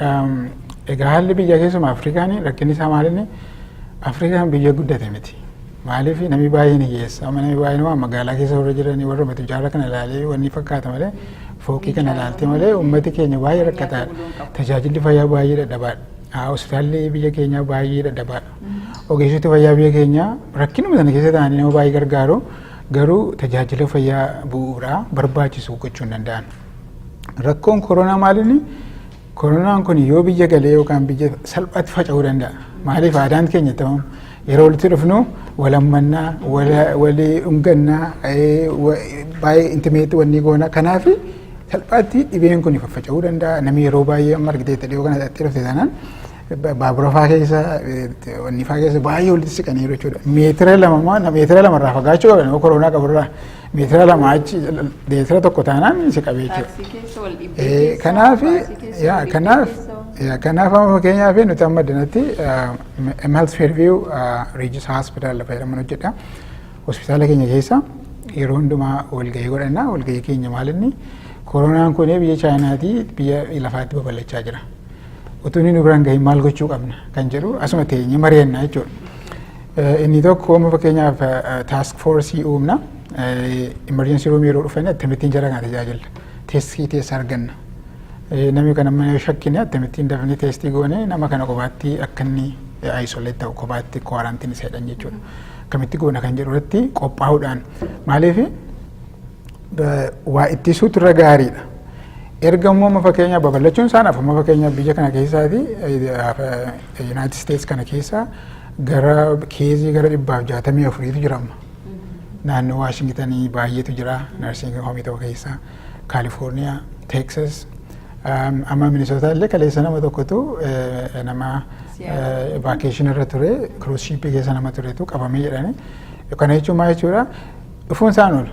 Egaa haalli biyya keessumaa Afrikaan rakkinni isaa maalinni Afrikaan biyya guddate miti. Maaliif namni baay'een hiyyeessa amma namni baay'een waan magaalaa keessa warra jiranii warra matu jaarraa kana ilaalee wanni fakkaata malee fooqii kana ilaaltee malee uummati keenya baay'ee rakkataadha. Tajaajilli fayyaa baay'ee dadhabaadha. Hospitaalli biyya keenyaa baay'ee dadhabaadha. Ogeessoti fayyaa biyya keenyaa rakkinuma sana keessa ta'anii nama baay'ee gargaaru garuu tajaajila fayyaa bu'uuraa barbaachisu gochuu hin danda'an. Rakkoon koronaa maalinni koronaan kun yoo biyya galee yookaan biyya salphaatti faca'uu danda'a. Maaliif aadaan keenya ta'uun yeroo walitti dhufnu walammannaa, walii dhungannaa, baay'ee intimeetti wanni goona. Kanaaf salphaatti dhibeen kun faffaca'uu danda'a. Namni yeroo baay'ee amma argiteetti dhiyoo kana dhaqxee dhufte taanaan baabura faa keessa wanni faa keessa baay'ee walitti siqaniiru jechuudha. Meetira lama meetira lamarraa fagaachuu qaban koronaa qaburraa. Meetira lama achi meetira tokko taanaan si qabee jechuudha. Taaksii keessa wal dhibbee Eh, keessa. Kanaaf baasii keessa, yaa, wal dhibbee kanaaf keessa. yaa, kanaaf amma fakkeenyaaf nuti amma dinatti Health Fairview Regis Hospital lafa jedhaman hojjedha. Hospitaala keenya keessa yeroo hundumaa walgahii godhanna. Walgahii keenya maal inni koronaan kun biyya Chaayinaatii biyya lafaatti babal'achaa jira. Utuu inni nu biraan gahin maal gochuu qabna kan jedhu asuma teenyee mari'anna jechuudha. Inni tokko amma fakkeenyaaf taask foorsii uumna. Imerjensii ruumii yeroo dhufan akkamittiin jara kana tajaajilla. Teestii teessa arganna. Namni kana amma yoo shakkine akkamittiin dafnee teestii goone nama kana kophaatti akka inni isolate ta'u kophaatti kwaarantiin isa jedhan jechuudha. Akkamitti goona kan jedhu irratti qophaa'uudhaan maaliif waa ittisuutu irra gaariidha. Erga immoo amma fakkeenyaaf babal'achuun isaan afuma fakkeenyaaf biyya kana keessaati Yuunaayitid Isteets kana keessa gara keezii gara dhibbaaf jaatamii afuriitu jira amma. Naannoo Waashingitanii baay'eetu jira narsiingii hoomii tokko keessa Kaalifoorniyaa, Teeksas, amma Minisootaa illee kaleessa nama tokkotu nama vaakeeshinii irra ture kiruus shiippii keessa nama turetu qabamee jedhani. Kana jechuun maal jechuudha? Dhufuun isaan oolu.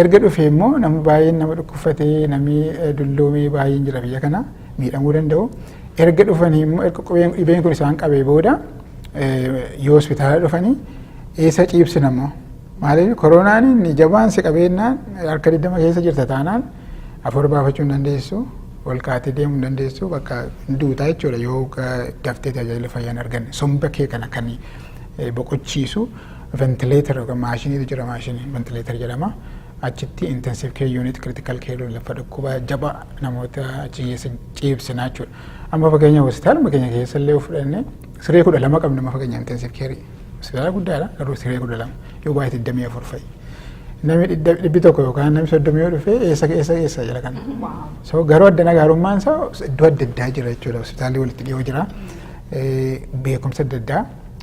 Erga dhufee immoo namni baay'een nama dhukkubfatee namni dulloomee baay'een jira biyya kana miidhamuu danda'u. Erga dhufanii immoo erga qubeen dhibeen kun isaan qabee booda yoo hospitaala dhufanii eessa ciibsina immoo. Maaliif koronaan inni jabaan si qabeennaan harka 20 keessa jirta taanaan afur baafachuu hin dandeessu. Ol kaatee deemuu hin dandeessu bakka duutaa jechuudha yoo daftee tajaajila fayyaa hin arganne. Somba kee kana kan boqochiisu. ventileetar yookaan maashiniitu jira maashinii ventileetar jedhama. Achitti intensive care unit critical care unit lafa dhukkuba jaba namoota achi keessa ciibsinaa jechuudha. Amma fageenya hospitaaluma keenya keessa illee fudhanne siree kudha lama qabna amma fageenya intensive care. Hospitaala guddaadha garuu siree kudha lama yoo baay'ee digdamii afur fa'i. Namni dhibbi tokko yookaan namni soddomi yoo dhufe eessa eessa eessa jira kana. So garuu addana gaarummaan isaa iddoo adda addaa jira jechuudha hospitaalli walitti dhiyoo jira. Beekumsa adda addaa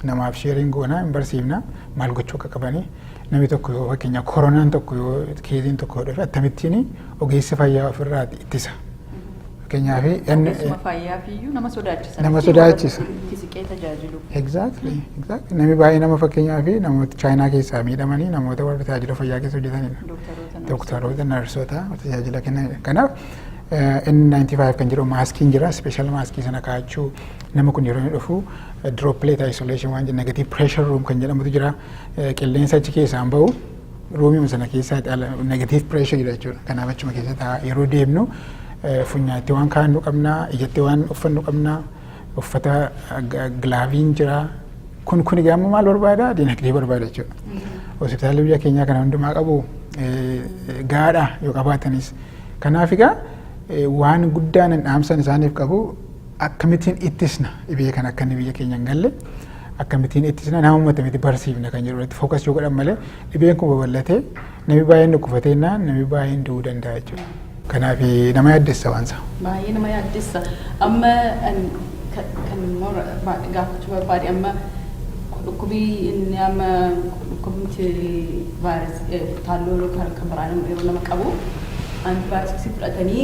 namaaf sheeriin goonaa hin barsiifna maal gochuu akka qabanii namni tokko yoo fakkeenyaaf koronaan tokko yoo keeziin tokko yoo dhufe akkamittiin ogeessi fayyaa ofirraa ittisa. Fakkeenyaaf Ogeessuma fayyaaf iyyuu nama sodaachisa. Nama Itti warra sodaachisa. itti siqee tajaajilu. Exactly, exactly. Namni baay'ee nama fakkeenyaaf namoota chaayinaa keessaa miidhamanii namoota warra tajaajila fayyaa keessa hojjetanidha. Dooktaroota narsoota. Dooktaroota, narsoota tajaajila kennanidha. Kanaaf eh, N95 kan jedhu maaskiin jira, special maaskii sana kaa'achuu, Nama kun yeroo inni dhufu droplet isolation waan jenna negative pressure room kan jedhamutu jira. Qilleensa achi keessaan bahu ruumiima sana keessaa ala negative pressure jira jechuudha. Kanaaf achuma keessa ta'a. Yeroo deemnu funyaatti waan kaa'annu qabna, ijatti waan uffannu qabna, uffata gilaaviin jira. Kun kun egaa ammoo maal barbaada? Dinagdee barbaada jechuudha. Hospitaalli biyya keenyaa kana hundumaa qabu gaadha yoo qabaatanis. Kanaaf egaa waan guddaan dhaamsan isaaniif qabu Akkamitiin ittisna dhibee kana akka inni biyya keenya hin galle akkamitiin ittisna nama matamiti barsiifna kan jedhu irratti fookas yoo godhan malee dhibeen kun babal'atee namni baay'een dhukkufatee innaan namni baay'een du'uu danda'a jechuudha. Kanaaf nama yaaddessa waan isaa. Baay'ee nama yaaddessa. Amma kan gaafachuu barbaade amma dhukkubii inni amma dhukkubni vaayiras taalloo kan biraan yeroo nama qabu antibaayootiksii fudhatanii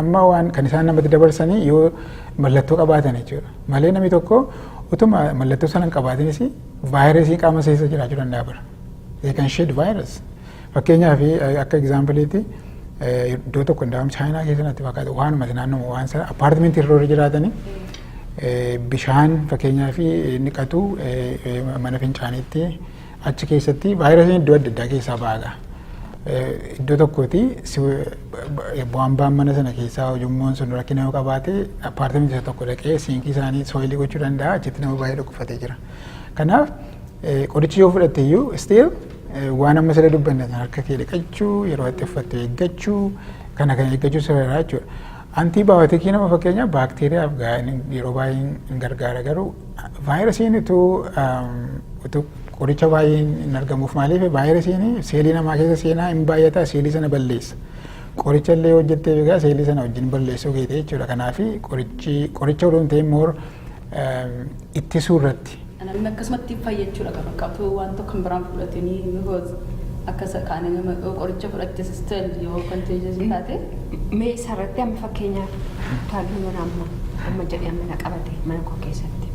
Amma waan kan isaan namatti dabarsanii yoo mallattoo qabaatan jechuudha. Malee namni tokko utuma mallattoo sana hin qabaatinis vaayirasii qaama keessa jiraachuu danda'a bara. They can shed virus. Fakkeenyaaf akka egzaampiliitti iddoo tokko hundaa'uun chaayinaa keessa natti fakkaata waanuma naannoo waan sana appaartimentii irra warri jiraatanii bishaan fakkeenyaaf dhiqatu mana fincaaniitti Achi keessatti vaayirasiin iddoo adda addaa keessaa baaga. Iddoo tokkooti bu'aan ba'an mana sana keessaa ujummoon sun rakkina yoo qabaate appaartamentii isa tokko dhaqee siinkii isaanii sooyilii gochuu danda'a achitti nama baay'ee dhukkubfatee jira. Kanaaf qorichi yoo fudhatte iyyuu still waan amma sirra dubbanne sana harka kee dhiqachuu yeroo itti uffatte eeggachuu kana kan eeggachuu sirraa jechuudha. Antiibaayotikii nama fakkeenyaaf baakteeriyaaf yeroo baay'ee hin gargaara garuu Vaayirasiin utuu utuu qoricha baay'een hin argamuuf maaliif vaayirasiin seelii namaa keessa seenaa hin baay'ata seelii sana balleessa. Qoricha illee hojjettee egaa seelii sana wajjin balleessuu keetii jechuudha. Kanaaf qorichi qoricha odoo hin ta'in moor ittisuu irratti. Namni akkasumatti fayyachuudha kan fakkaatu waan tokko kan biraan fudhatanii bifoos akka isa kaanii nama qoricha fudhatte sisteel yoo konteejii taate. Mee isarratti amma fakkeenyaaf Ruttaayyuu yoona amma amma jedhee amma na qabate mana koo keessatti.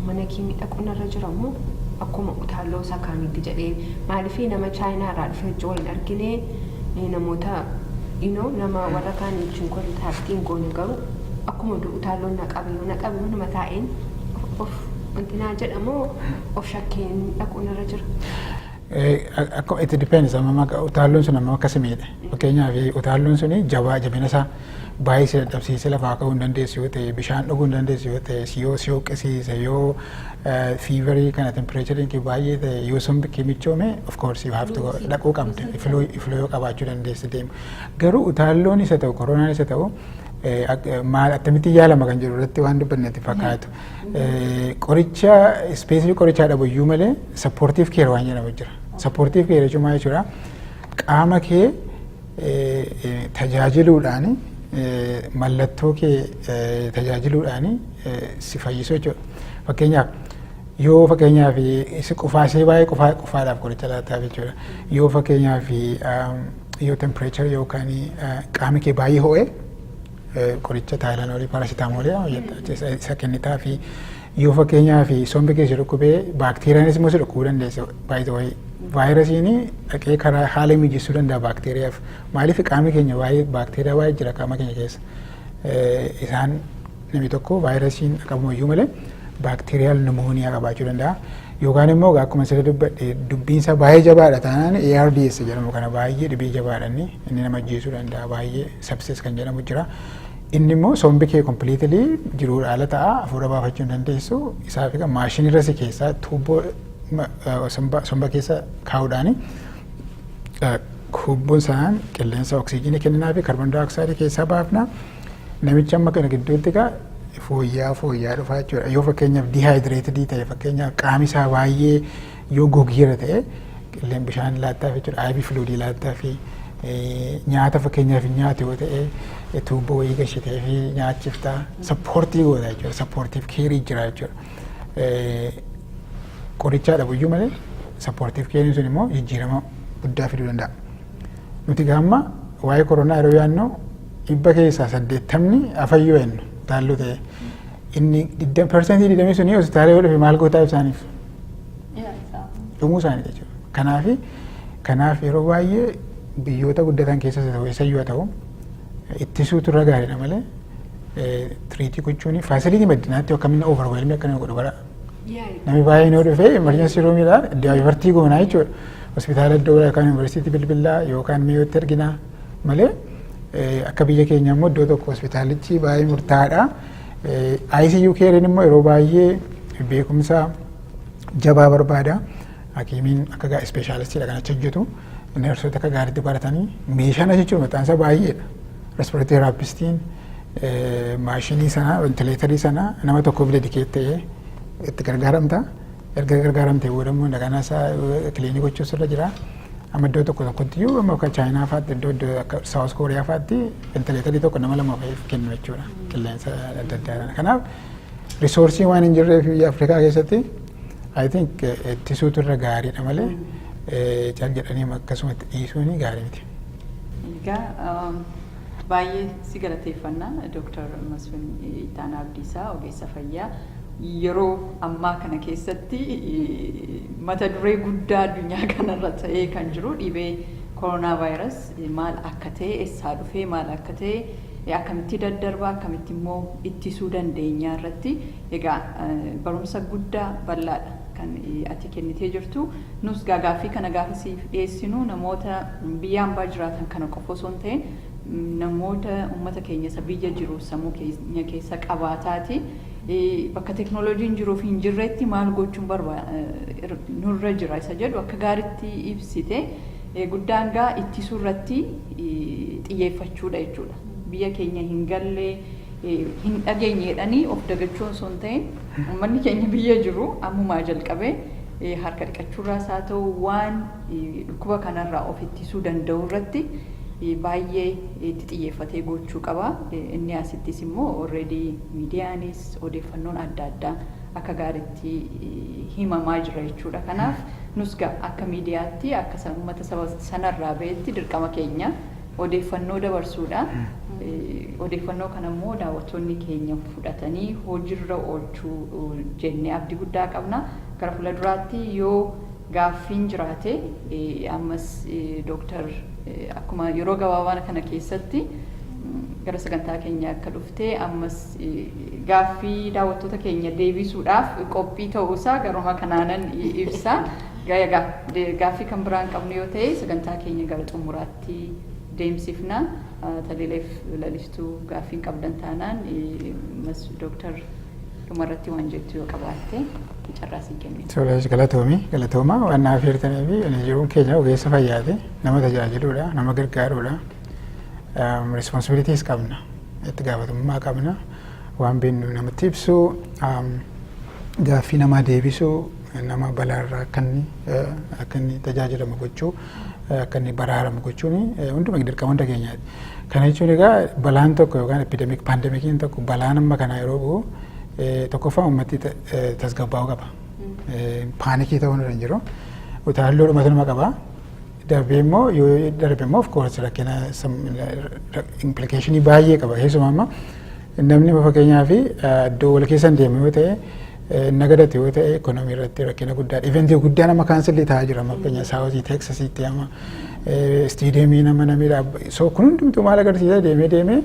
Mana kee miidhaguu narra jira moo akkuma utaaloo isaa kaanitti jedhee maaliif nama chaayinaa irraa dhufee hojii waliin argine namoota inoo nama warra kaan wajjin kontaaktii hin goone garuu akkuma utaaloo na qabe yoo na qabe manuma taa'een of wanti naa jedha moo of shakkeen dhaquu narra jira. It depends amma utaalloon sun amma akka si miidhe fakkeenyaaf utaalloon sun jabaa jabina isaa baay'ee si dadhabsiisee lafaa ka'uu hin dandeessu yoo ta'e bishaan dhuguu hin dandeessu yoo ta'e si yoo si hoqqisiise yoo fiivarii kana tempireechariin kee baay'ee ta'e yoo sombi kee michoome of course you have to go dhaquu qabda ifluu ifluu yoo qabaachuu dandeessi deemu garuu utaalloon isa ta'u koronaan isa ta'u maal akkamittiin yaalama kan jedhu irratti waan dubbannetti fakkaatu. Qoricha ispeesifii qorichaa dhabu iyyuu malee sappoortiif keer waan jedhamu jira. Sappoortiif keer jechuun maal jechuudha? Qaama kee tajaajiluudhaan mallattoo kee tajaajiluudhaan si fayyisu jechuudha. Fakkeenyaaf yoo fakkeenyaaf si qufaasee baay'ee qufaa qufaadhaaf qoricha laataaf jechuudha. Yoo fakkeenyaaf yoo tempireechar yookaan qaama kee baay'ee ho'e Qoricha taayilanoolii paarasitaamoolii jedhama jetta jechuudha. Isa kennitaa fi yoo fakkeenyaa fi sombi keessa dhukkubee baakteeriyaanis immoo si dhukkubuu dandeessa. Baay'ee vaayirasiin dhaqee karaa haala mijeessuu danda'a baakteeriyaaf. Maaliif qaamni keenya baay'ee baakteeriyaa baay'ee jira qaama keenya keessa. Isaan namni tokko vaayirasiin qabamu iyyuu malee baakteeriyaal nimooniyaa qabaachuu danda'a. Yookaan immoo akkuma sirrii dubbadhe dubbiinsa baay'ee jabaadha taanaan ARDS jedhamu kana baay'ee dhibee jabaadha inni inni nama ajjeesuu danda'a baay'ee. Sepsis kan jedhamu jira. Inni immoo sombi kee completely jiruu dhaala ta'a hafuura baafachuu hin dandeessu. Isaaf egaa maashinirra si keessaa tuubboo somba keessa kaa'uudhaani tuubboon sanaan qilleensa oksijiinii kenninaa fi kaarboon daayooksaayidii keessaa baafna. Namichi amma kana gidduutti egaa fooyya'aa fooyya'aa dhufaa jechuudha. Yoo fakkeenyaaf dihaayidireetidii ta'e fakkeenyaaf qaami isaa baay'ee Yoo gogeera ta'e qilleen bishaan laattaaf jechuudha. Aybii filuudii laattaaf nyaata fakkeenyaaf nyaatu yoo ta'e tuubboo wayii gashitee fi nyaachifta sappoortii goota jechuudha. Sappoortiif keerii jira jechuudha. Qorichaa dhabuyyuu malee sappoortiif keeriin sun immoo jijjiirama guddaa fiduu danda'a. Nuti gaamma waa'ee koronaa yeroo yaannu dhibba keessaa saddeettamni afayyoo jennu taalloo ta'e. Inni persentii digdamii suni hospitaala yoo dhufe maal gootaa ibsaaniif? Dhumuu isaanii jechuudha. Kanaaf kanaaf yeroo baay'ee biyyoota guddatan keessas ta'u eessayyuu haa ta'u ittisuutu irra gaariidha malee tiriitii gochuun faasiliitii maddinaatti akkamiin overwhelmii akka nama godhu bara namni baay'een yoo dhufe emergency roomiidha daayivartii goonaa jechuudha. Hospitaala iddoo biraa yookaan yuunivarsiitii bilbilaa yookaan mi'ootti erginaa malee akka biyya keenya immoo iddoo tokko hospitaalichi baay'ee murtaa'aadha. ICU keeriin immoo yeroo baay'ee beekumsa jabaa barbaada. Hakiimiin akka gaa ispeeshaalistiidha kan achi hojjetu. Neersoota akka gaariitti baratanii meeshaan achi jiru maqaan isaa baay'eedha. Respireetii raappistiin maashinii sana ventileetarii sana nama tokkoof dedikeet ta'ee itti gargaaramta. Erga gargaaramtee booda immoo dagana isaa kiliinii gochuus irra jira. Amma iddoo tokko tokkotti iyyuu amma akka Chaayinaa fa'aatti iddoo iddoo akka Saawus Kooriyaa fa'aatti ventileetarii tokko nama lama fa'iif kennu jechuudha qilleensa adda addaa kana. Kanaaf risoorsii waan hin jirreef biyya Afrikaa keessatti I think eh, ittisuutu irra gaariidha malee eh, cal jedhanii akkasumatti dhiisuun gaarii miti. Egaa um, Baay'ee si galateeffanna Dr. Masfin Ittaanaa Abdiisaa ogeessa fayyaa yeroo ammaa kana keessatti mata duree guddaa addunyaa kanarra ta'ee kan jiru dhibee koronaa vaayiras maal akka ta'e essaa dhufee maal akka ta'e akkamitti daddarba akkamitti immoo ittisuu dandeenyaa irratti Egaa barumsa guddaa bal'aadha kan ati kennitee jirtu. Nus gaa gaaffii kana gaafa siif dhiyeessinu namoota biyya ambaa jiraatan kana qofa osoo hin ta'in namoota ummata keenya isa biyya jiru sammuu keenya keessa qabaataati bakka teknooloojiin jiruuf hin jirretti maal gochuun barba nurra jira isa jedhu akka gaaritti ibsite guddaan gaa ittisuu irratti xiyyeeffachuudha jechuudha. Biyya keenya hin galle hin dhageenye jedhanii of dagachuu osoo hin ta'iin ummanni keenya biyya jiru ammumaa jalqabee harka dhiqachuurraas haa ta'u waan dhukkuba kanarraa of ittisuu danda'u irratti baay'ee itti xiyyeeffatee gochuu qaba. Inni asittis immoo already miidiyaanis odeeffannoon adda addaa akka gaariitti himamaa jira jechuudha. Kanaaf nus akka miidiyaatti akka uummata saba sanarraa ba'etti dirqama keenya. odeeffannoo dabarsuudha. Odeeffannoo kana immoo daawwattoonni keenya fudhatanii hojiirra oolchuu jennee abdii guddaa qabna. Gara fuula duraatti yoo gaaffiin jiraate ammas dooktar akkuma yeroo gabaabaa kana keessatti gara sagantaa keenya akka dhufte ammas gaaffii daawwattoota keenya deebisuudhaaf qophii ta'uusaa garuma kanaanan ibsa. Gaaffii kan biraan qabnu yoo ta'e sagantaa keenya gara xumuraatti. tti deemsifna. Talileef lalistuu gaaffiin qabdan taanaan mas dooktar dhumarratti waan jettu yoo qabaatte carraa sii kennina. Tole galatoomi galatooma waan naaf heertanii fi ani jiruun keenya ogeessa fayyaati nama tajaajiluudha nama gargaaruudha responsibilities qabna itti gaafatamummaa qabna waan beeknu namatti ibsuu um, gaaffii namaa deebisuu nama balaarraa akka inni eh, akka inni tajaajilamu gochuu akka inni baraaramu gochuun hunduma dirqama hunda keenyaati. Kana jechuun egaa balaan tokko yookaan epidemic pandemikiin tokko balaan amma kanaa yeroo bu'u tokkoffaa uummatti tasgabbaa'uu qaba. Paanikii ta'uu irra hin jiru. Utaalloo dhumatu nama qaba. Darbee immoo yoo darbe immoo of course rakkina implikeeshinii baay'ee qaba. Keessumaa amma namni fakkeenyaa fi iddoo wal keessa hin deemne yoo ta'e nagadate yoo ta'e ekonomii irratti rakkina guddaadha. Iventii guddaa nama kaansilli ta'aa jira amma fakkeenyaaf saawuzii teeksasiitti amma istiideemii nama namidha. So kun hundumtuu maal agarsiisa deemee deemee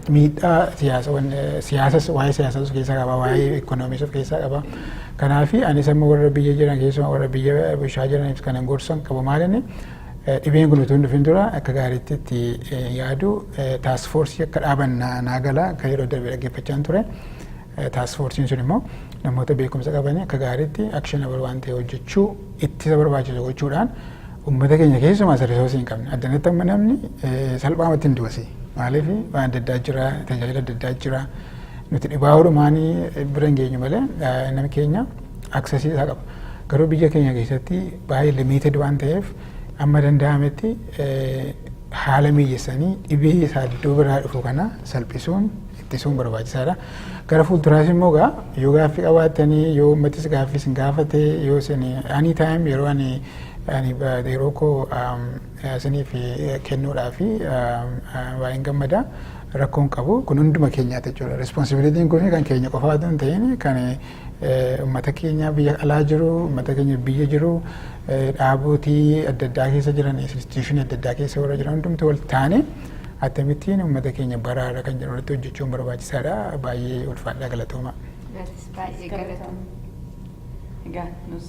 miidhaa siyaasawan siyaasas waa'ee siyaasaa of keessaa qaba waa'ee ekonomiis of keessaa qaba. Kanaafi anis amma warra biyya jiran keessumaa warra biyya bishaa jiraniif kanan gorsan qabu maalinni dhibeen kun utuu hin dhufin dura akka gaariitti itti yaadu taasifoorsii akka dhaaban naa gala akka yeroo darbe dhaggeeffachaan ture. Taaskfoorsiin sun immoo namoota beekumsa qabanii akka gaariitti actionable waan ta'e hojjechuu ittisa barbaachisu gochuudhaan uummata keenya keessumaa isa risoosii hin qabne addanatti amma namni salphaamatti hin du'asi maaliif waan adda addaa jira tajaajila adda addaa jira nuti dhibaa orumaanii bira hin geenyu malee nama keenya aksesii isaa qaba garuu biyya keenya keessatti baay'ee limited waan ta'eef amma danda'ametti haala mijeessanii dhibee isaa iddoo biraa dhufu kana salphisuun ittisuun barbaachisaadha. Gara fuulduraas immoo egaa yoo gaaffii qabaattanii yoo uummatis gaaffii isin gaafate yoo isin ani taayim yeroo ani ani yeroo koo isiniif kennuudhaaf baay'een gammada rakkoon qabu kun hunduma keenyaati jechuudha. Responsibilitiin kun kan keenya qofaa otoo hin ta'in kan uummata keenya biyya alaa jiru uummata keenya biyya jiru dhaabootii adda addaa keessa jiran instituushinii adda addaa keessa warra jiran hundumti wal taane attamittiin uummata keenya baraara kan jedhu irratti hojjechuun barbaachisaadha. Baay'ee ulfaadhaa galatooma. Atis baay'ee galatoom. Egaa nus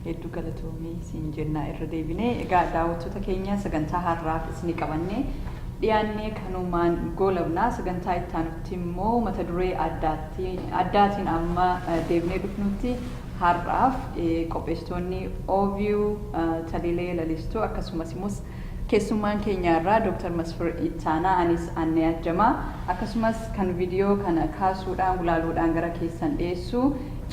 hedduu galatoomii siin jennaa irra deebinee egaa daawwattoota keenya sagantaa har'aaf isni qabannee dhiyaannee kanumaan goolabnaa sagantaa ittaanutti immoo mata duree addaatiin amma deebinee dhufnutti har'aaf qopheessitoonni OVU Talilee Lalistuu akkasumas immoo Keessummaan keenya har'aa Dr. Masfir Ittaanaa, anis Annee Ajjamaa, akkasumas kan vidiyoo kana kaasuudhaan, gulaaluudhaan gara keessan dhiyeessu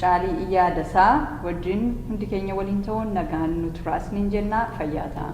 Caalii Iyyaa Dasaa wajjin hundi keenya waliin ta'uun nagaan nu turaa isiniin jenna. Fayyaa ta'aa!